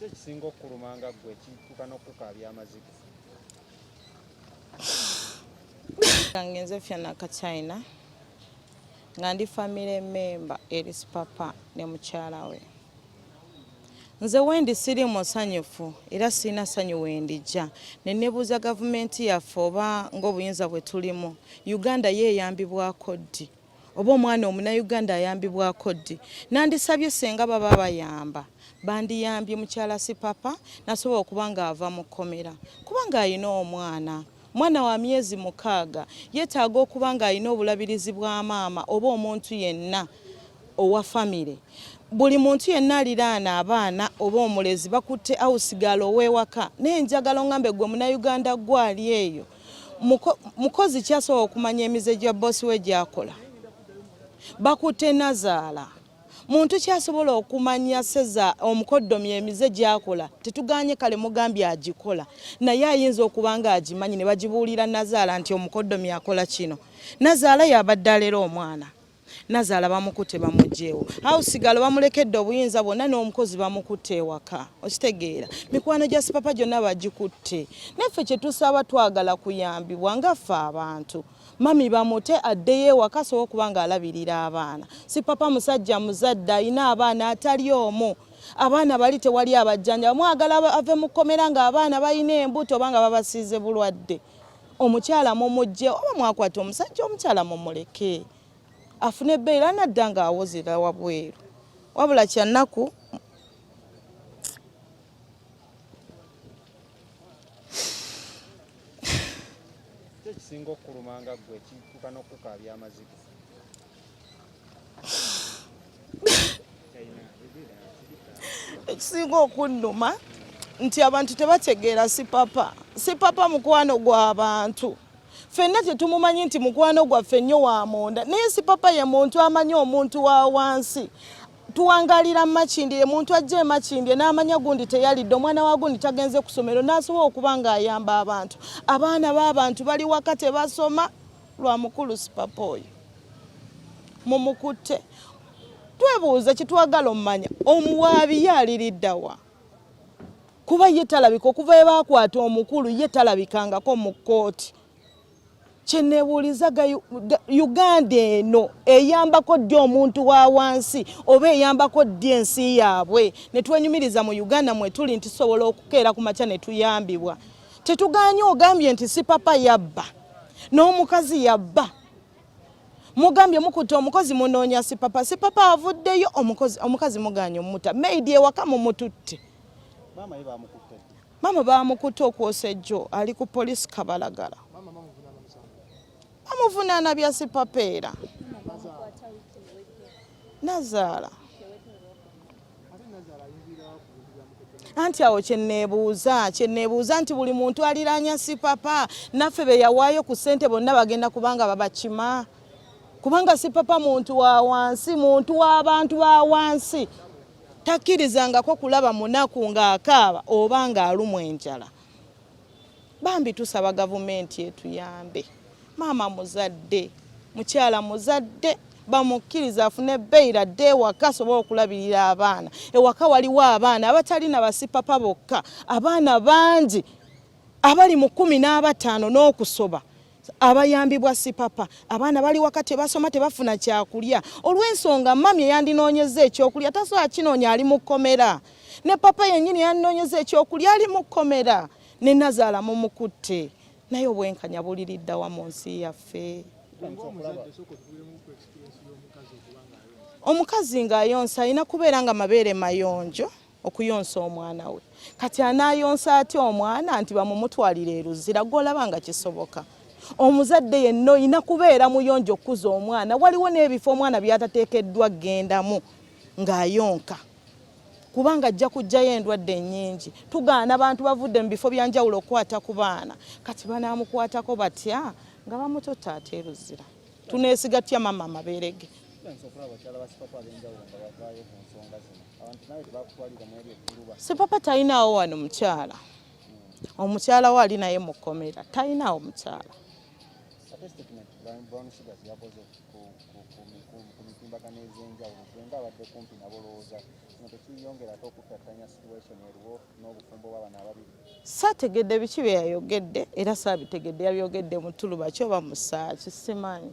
ekisinga okukuluma nga ggwe ekituuka n'okukukaabya amaziga kange nze fyana kachina nga ndi famire memba eri sipapa ne mukyala we Nze wendi siri musanyufu era sirina ssanyu wendijja ne nebuuza gavumenti yaffe oba ng'obuyinza bwe tulimu Uganda ye eyambibwako ddi oba omwana omunayuganda ayambibwako ddi nandisabye senga baba bayamba bandiyambye mukyala sipapa nasobola okuba ng'ava mu kkomera kubanga alina omwana Mwana wa myezi mukaaga yeetaaga okuba ng'alina obulabirizi bwa maama oba omuntu yenna owa famire. Buli muntu yenna aliraana abaana oba omulezi bakutte awusigaala ow'ewaka naye njagala ongambe gwe munayuganda gwali eyo mukozi kyasobola okumanya emize gya boosi we gyakola bakutte nazaala. muntu kyasobola okumanya seza omukoddomi emize gyakola tetuganye kale mugambye agikola naye ayinza okuba nga agimanyi ne bagibuulira nazaala nti omukoddomi akola kino nazaala yabadde alera omwana nazaala bamukute bamugyewo hausigalo bamulekedde obuyinza bwonna n'omukozi bamukute ewaka okitegeera mikwano gya sipapa gyonna bagikutte naffe kyetusaba twagala kuyambibwa ngaffe abantu mami bamute addeyo ewaka sobola okuba nga alabirira abaana si papa musajja muzadde alina abaana atali omu abaana bali tewali abajjanja mwagala ave mu kkomera ng'abaana balina embuto oba nga babasiize bulwadde omukyala mumujje oba mwakwata omusajja omukyala mumuleke afune ebbeeyi era nadda ng'awozera wabweru wabula kyannaku ekisinga okukuluma nga ggwe kituuka n'okukukaabya amaziga ekisinga okunnuma nti abantu tebategeera sipapa sipapa mukwano gw'abantu fenna tetumumanyi nti mukwano gwaffe nnyo wa munda naye sipapa ye muntu amanyi omuntu wa wansi tuwangalira makindye muntu ajja emakindye n'amanya gundi teyalidde omwana wa gundi tagenze ku somero n'asobola okuba ng'ayamba abantu abaana b'abantu bali waka tebasoma lwa mukulu sipapa oyo mumukutte twebuuza kitwagala omumanya omuwaabi ye aliriddawa kuba ye talabika okuva ebaakwata omukulu ye talabikangako mu kkooti kyenebuuliza uganda eno eyambako ddi omuntu wa wansi oba eyambako ddi ensi yaabwe netwenyumiriza mu uganda mwetuli nti tusobola okukeera ku makya netuyambibwa tetuganye ogambye nti sipapa yabba n'omukazi yabba mugambye mukutte omukozi munoonya sipapa sipapa avuddeyo omukazi muganye omuta maidi ewaka mumututte Mama baamukutte okwosa ejjo ali ku poliisi Kabalagala. Bamuvunaana bya sipapeera. Nazaala. anti awo kyeneebuuza kyeneebuuza nti buli muntu aliraanya sipapa naffe be yawaayo ku ssente bonna bagenda kubanga babakima kubanga sipapa muntu wa wansi muntu w'abantu ba wansi takkirizangako kulaba munaku ng'akaaba oba ng'alumwa enjala bambi tusaba gavumenti etuyambe maama muzadde mukyala muzadde bamukkiriza afune beyira adde ewaka asobole okulabirira abaana ewaka waliwo abaana abatali na basipapa bokka abaana bangi abali mu kumi n'abataano n'okusoba abayambibwa sipapa abaana bali waka tebasoma tebafuna kyakulya olw'ensonga mami eyandinoonyeza ekyokulya tasobola kinoonya ali mu kkomera ne papa yennyini eyandinoonyeza ekyokulya ali mu kkomera ne nazaala mumukutte naye obwenkanya buliriddawa mu nsi yaffe omukazi ng'ayonsa alina kubeera nga mabeere mayonjo okuyonsa omwana we kati anayonsa atya omwana nti bamumutwalira eruzira gwolaba nga kisoboka omuzadde yenna olina kubeera muyonja okukuza omwana waliwo n'ebifo omwana byatateekeddwa gendamu ng'ayonka kubanga ajja kujjayo endwadde ennyingi tugaana abantu bavudde mu bifo byanjawulo okukwata ku baana kati banaamukwatako batya nga bamututta ate eruzira tuneesiga tya mama amabeere ge sipapa talinawo wano mukyala omukyala we ali naye mu kkomera talinawo mukyala saategedde biki bye yayogedde era saabitegedde yabyogedde mu tuluba kyoba musaaki simanyi